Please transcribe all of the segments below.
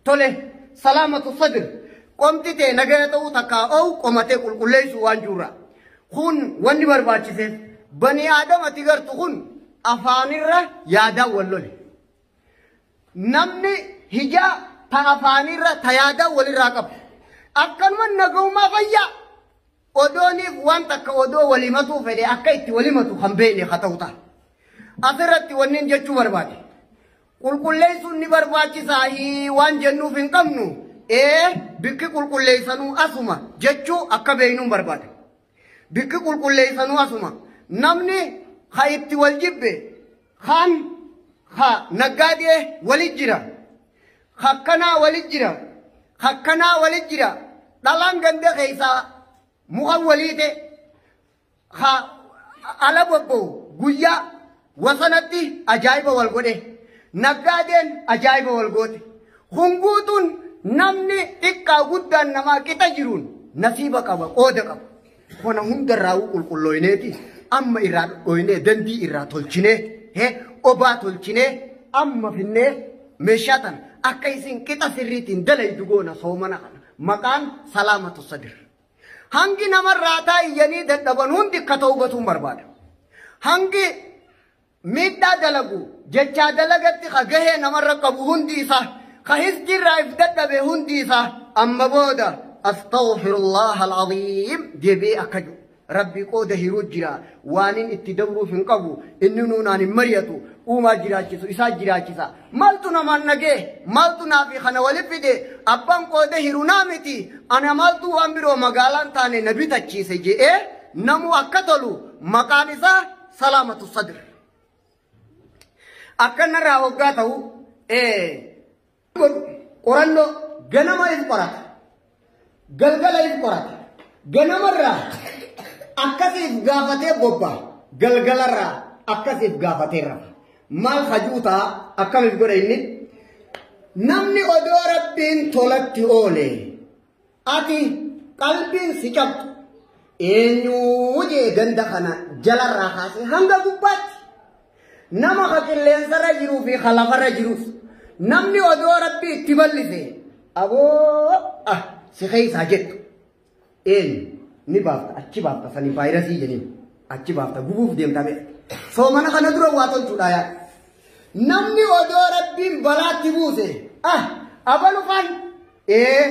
Tole salaamatu sadir qomti tee nagaya ta'uu takkaa oo'u qomatee qulqulleessuu waan jirra. Kun wanni barbaachiseef bani aadam ati gartu kun afaanirra yaadaan wal lole. Namni hijaa ta afaanirra ta yaadaan walirraa qabu. Akkanuma nagaumaa fayyaa odooniif waan takka odoo walimatuu fedhe akka itti walimatu kan beekne haa ta'u ta'a. Asirratti wanni jechuu barbaade. Qulqulleessuun ni barbaachisaa i waan jennuuf hin qabnu ee bikki qulqulleessanuu asuma jechuu akka beeynuun barbaada. Bikki qulqulleessanuu asuma namni ha itti wal jibbe kaan ha naggaadee wali jira hakkanaa wali jira hakkanaa wali jira dhalaan ganda keessaa mukan waliite ha ala bobba'u guyyaa wasanatti ajaa'iba wal godhe naggaadeen ajaa'iba wal goote kun guutuun namni xiqqaa guddaan namaa qixa jiruun nasiiba qaba qooda qaba kana hundarraa'uu qulqullooyneeti amma irraa dhodhooynee dandii irraa tolchinee he obaa tolchinee amma finnee meeshaa tana akka isin qixa sirriitiin dalaydu goona soomana kana maqaan salaamatu sadir. Hangi nama irraataa iyyanii dadhaban hundi akka tawbatuun barbaada. Hangi miidhaa dalagu jechaa dalagatti ka gahee namarra qabu hundi isaa ka hizdi irraa if dadhabe hundi isaa amma booda astaghfirullah al-aziim deebi'ee akka jiru. Rabbii qooda hiruu jira waanin itti dabruuf hin qabu inni nuunaan hin mari'atu uumaa jiraachisu isaa jiraachisa Maltu naman nage maltu nafi kana wali fide abban qode hiruna miti ana maltu wan biro magalan tane na bitachise je'e namu akka tolu maqaan isa salamatu sadr akka narraa hoggaa ta'u ee qorannoo ganama ifu qorata Galgala if qorata. Ganamarraa akkasiif gaafatee bobba. Galgalarraa akkasiif gaafatee rafa. Maal hajuutaa akkamiif godha inni? Namni odoo rabbiin tolatti oole ati qalbiin si cabdu eenyuu jee ganda kana jalarraa kaasee hanga gubbaatti Nama ka qilleensarra jiruu fi ka lafarra jirus. Namni odoo rabbi itti bal'ise aboo ah si keessaa jettu. Eenyu ni baafta achi baafta sani vaayirasii jeniin achi baafta gubuuf deemta beekta. Soomana kana dura waa tolchuudhaa yaa. Namni odoo rabbiin balaatti buuse ah abalufaan Ee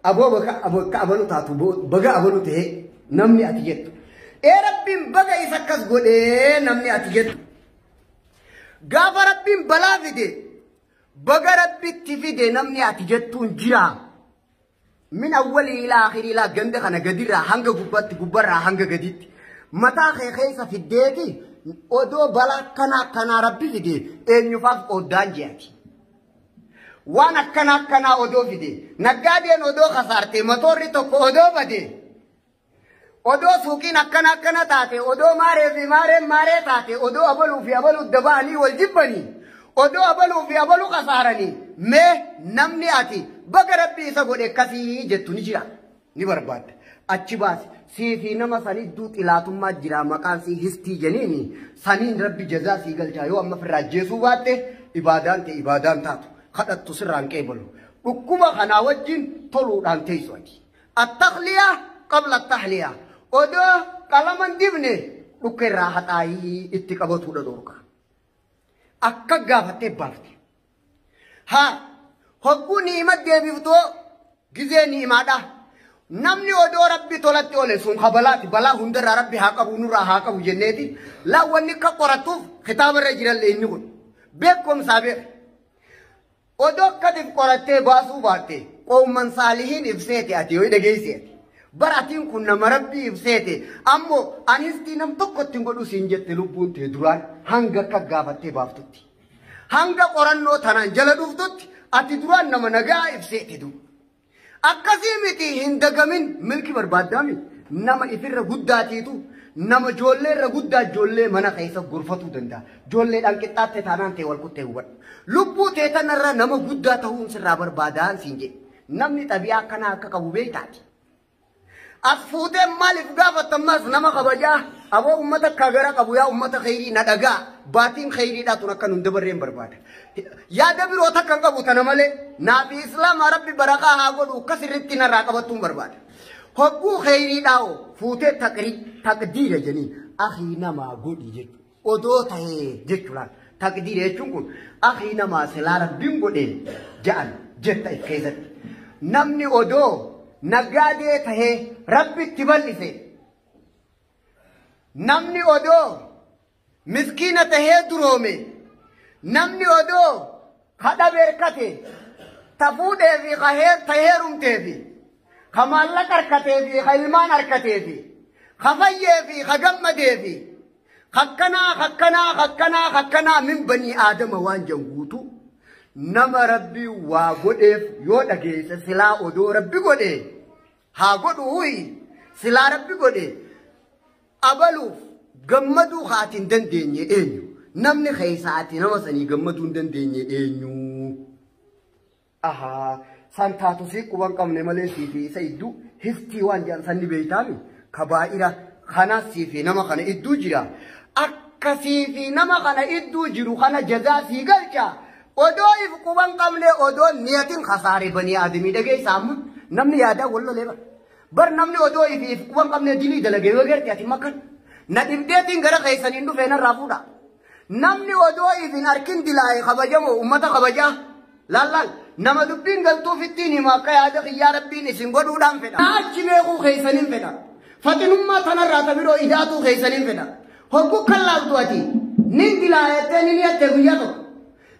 aboo baga abo- akka abalu taatu bo- baga abalu ta'e namni ati jettu. Ee rabbiin baga isa akkas godhee namni ati jettu. Gaafa rabbiin balaa fide baga rabbitti fide namni ati jettuun jira. Min awwalii ilaa akhirii ilaa ganda kana gadirraa hanga gubbaatti gubbarraa hanga gaditti. Mataa kee keessa fiddeeti odoo balaa kanaa kanaa rabbi fide eenyufaaf oddaan jeati. Waan akkana akkanaa odoo fide naggaadeen odoo kasaarte motoorri tokko odoo bade odoo suuqiin akkana akkana taate odoo maaree fi maareen maaree taate odoo abaluu fi abaluu daba'anii wal jibbanii odoo abaluu fi abaluu kasaaranii mee namni ati baga rabbi isa godhe akkasii jettu ni jira. ni barbaadda. Achi baasi. Sii fi nama san idduu xilaatummaa jira maqaan sii histii jeniini saniin rabbi jazaa sii galchaa yoo amma firraa ajjeesuu baatte ibaadaan tee ibaadaan taatu kadhattu sirraan qeebalu. Dhukkuba kanaa wajjin toluudhaan teessu ati. Attaqliyaa qabla attahliyaa. Odoo qalaman dibne dhukka irraa haxaayii itti qabatuudha dhorka. Akka gaafattee baafte. Haa hogguu ni'ima deebiftoo gizee ni'imaadha. Namni odoo rabbi tolatti ole sun habalaati balaa hundarraa rabbi haa qabu nurraa haa qabu jenneeti laawwanni akka qorattuuf kitaaba irra jiran leenyi kun beekumsaa beeka. Odoo akkatiif qorattee baasuu baatte qoomman saalihiin ibseeti ati yoo dhageesseeti. Bara atiin kun nama rabbii ibseeti ammoo anistii nam tokkotti hin godhu siin jette lubbuun tee duraan hanga akka gaafattee baaftutti. Hanga qorannoo tanaan jala dhuftutti ati duraan nama nagaa ibsee didu. Akkasii miti hin dagamin milki barbaaddaami nama ifirra guddaatiitu nama ijoollee irra guddaa ijoollee mana keessa gorfatuu danda'a. Ijoolleedhaan qixxaatte taanaan ta'e wal kuttee hubadhu. Lubbuu tee tanarra nama guddaa ta'uun sirraa barbaadaan siin jedhe. Namni xabi'aa akkanaa akka qabu beektaati. As fuutee maaliif gaafatta ammaas nama kabajaa aboo ummata akka gara qabu yaa ummata kheyrii na dhagaa baatiin kheyriidhaa tun akka nun dabarreen barbaada. Yaada biroo takka hin qabu tana malee naa fi islaamaa rabbi barakaa haa godhu akkas irratti narraa qabattuun barbaada. Hogguu kheyriidhaa hoo fuutee taqrii taqdiira jeniin akii namaa godhi jechuudha. odoo tahee jechu laal taqdiira jechuun kun akii namaa silaa rabbiin godhee ja'an jetta if keessatti namni odoo nagaadee tahee rabbitti bal'ise namni odoo miskiina tahee duroome namni odoo kadha beerkate ta fuudhee fi ka heer ta heerumtee fi ka maallaqa harkatee fi ka ilmaan harkatee fi ka fayyee fi ka gammadee fi Kakkanaa kakkanaa kakkanaa kakkanaa min banii aadama waan jan guutu nama rabbi waa godheef yoo dhageesse silaa odoo rabbi godhe haa godhu huyi silaa rabbi godhe abaluuf gammaduu kaati hin dandeenye eenyu namni keessaati nama sanii gammaduu hin dandeenye eenyu Ahaa san taatu sii quban qabne malee sii fi isa idduu hiftii waan jedhan sanni beeytaami kabaa'ira kanaas sii fi nama kana idduu jira akka sii fi nama kana idduu jiru kana jazaa sii galcha odoo if quban qabne odoo niyatin kasaare banii aadamii dhageessa amma namni yaadaa wal lolee bara bar namni odoo if if quban qabne dilii dalagee yoo garte ati makkan na dhibdeetiin gara keessaniin dhufee narraa fuudha. Namni odoo if hin arkin dilaa'e kabajamoo ummata kabajaa? Laal laal nama dubbiin galtuuf ittiin hima akka yaada kiyyaa rabbiin isin godhuudhaan fedha. Na achi beekuu keessanin fedha. Faxinummaa tanarraa ta biroo idaatuu keessanin fedha. Hoggu kan laaltu ati nin dilaayattee nin yatte guyyaa tokko.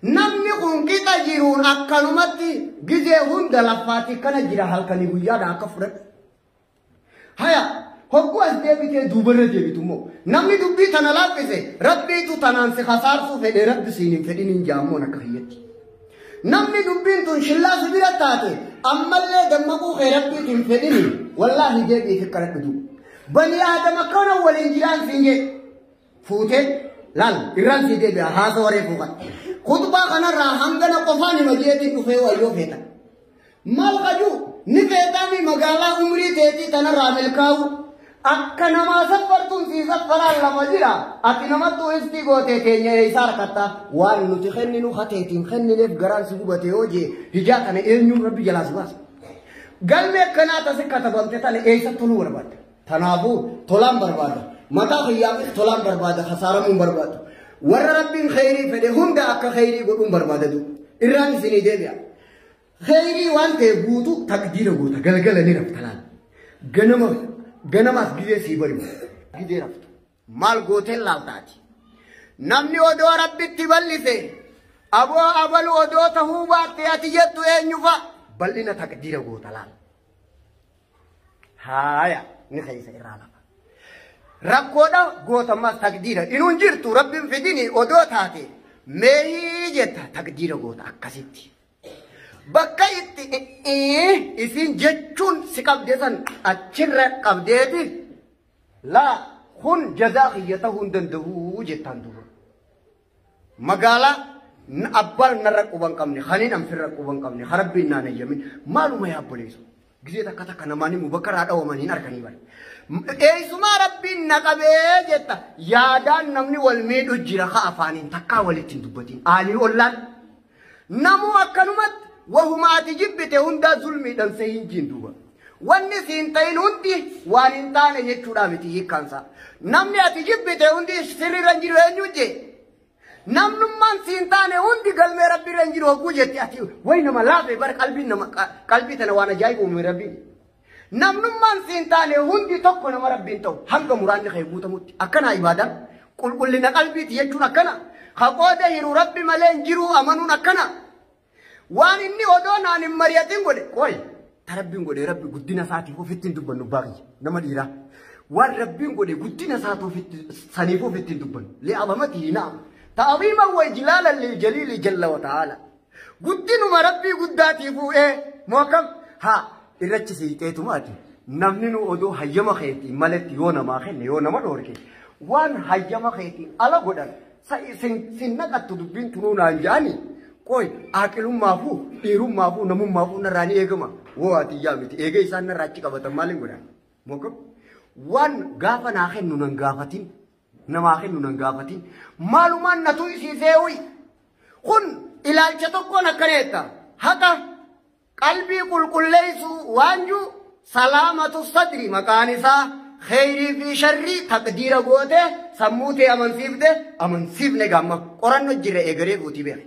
Namni kun qixa jiruun akkanumatti gizee hunda laffaatti kana jira halkanii guyyaadha akka fudhadhu. Haya, hogguu as deebitee duubarra deebitu immoo namni dubbii tana laaffise rabbiitu tanaan si kasaarsuu fedhe rabbi siin hin fedhin hin jaammoon akka kiyyatti. Namni dubbiin tun shillaa si bira taate ammallee dammaquu kee rabbiitu hin fedhini wallaahi deebiif kadhadhu duuba. Bani aadama kana waliin jiraan siin jee. fuutee laal irraan sii deebi'a haasa waree fuukan. Kutbaa kanarraa hangana qofaan hima jeetiin dhufee wayyoo feetan. Maal qajuu ni feetaanii magaalaa umrii teetii tanarraa milkaa'u. Akka namaa saffartuun sii saffaraan lama jira. Ati namattuu iftii gootee teenya eessaa harkatta. Waan nuti kenninu hateetiin kennineef garaan si gubate yoo jee hijaa kana eenyuun rabbi jalaa si baasa. Galmee akkanaa tasi katabamte tana eessa toluu barbaadda? Tanaafuu tolaan barbaada. Mataa kiyyaafis tolaan barbaada kasaaramuu hin barbaadu. Warra rabbiin kheyrii fedhe hunda akka kheyrii godhuun barbaada du. Irraan isinii deebi'a. Kheyrii waan ta'e guutu takdiira goota galgala ni rafta laal. Ganama ganamaas gizee sii bari'u. Gizee raftu. Maal gooteen laaltaati. Namni odoo rabbitti bal'ise aboo abalu odoo tahuu baatte ati jettu eenyufa bal'ina takdiira goota laal. haaya ni keessa irraa lafa rakkoodha gootammaa takdiira inuun jirtu rabbiin fidini odoo taate meehii jetta takdiira goota akkasitti bakka itti isin jechuun si qabde san achirra qabdeeti laa kun jazaa kiyya ta'uu hin danda'u jettaan duuba Magaalaa n- abbaan narra quba hin qabne, kaniin an firra quba hin qabne, ka rabbiin naan hayyamin, maaluma yaa obboleessa. Gizee takka takka namaan immoo bakka irraa dhawaman hin arganii bara. M- Eessumaa rabbiin na qabee jetta yaadaan namni wal miidhu jira ka afaaniin takkaa walitti hin dubbatiin. Aalii ollaan Namuu akkanumatti wahuma ati jibbite hundaa zulmiidhan se hin jiin duuba. Wanni si hin ta'in hundi waan hin taane jechuudha miti hiikkaansaa. Namni ati jibbite hundi sirriirra hin jiru eenyu jee. Namnummaan si hin taane hundi galmee rabbiirra hin jiru hogguu jetti ati wayi nama laafe bara qalbii nama qalbii tana waan ajaa'iba uume rabbiin. Namnummaan si hin taane hundi tokko nama Rabbi hin ta'u. Hanga muraanni kee guutamutti. Akkanaa ibaadaan. Qulqullina qalbiiti jechuun akkana. Ka qooda hiru Rabbi malee hin jiru amanuun akkana. Waan inni odoo naan hin mari'atin godhe. Qoy. Ta Rabbiin godhe Rabbi guddina isaatiif ofitti hin dubbannu abbaa kiyya. Nama dhiiraa. Waan Rabbiin godhe guddina isaati ofitti saniif ofitti hin dubbannu. Li'abamati hinaama. Ta'abiiman wa ijlaalan lil jaliili jalla wa ta'aala. Guddinuma rabbii guddaatii fuudhee moo akkam haa irrachi siixeetumaati namni nu odoo hayyama keetii maletti yoo namaa kenne yoo nama dhoorke waan hayyama keetii ala godhan sin naqattu dubbiin tunuu naan jaani qoy aaqilummaafuu dhiirummaafuu namummaafuu narraa ni eegama woo ati yaa miti eegee isaan narraa achi qabatan maaliin godhan moo akkam waan gaafa naa kennu nan gaafatin Namaa kennu nan gaafatiin. Maalumaan na tuysiisee uyi. Kun ilaalcha tokkoon akkana jetta. Haqa qalbii qulqulleessuu waanjuu salaamatu sadri maqaan isaa kheyrii fi sharrii taqdiira goote sammuu tee amansiifte amansiifne gamma qoranno jirra eegaree fuutii beeke.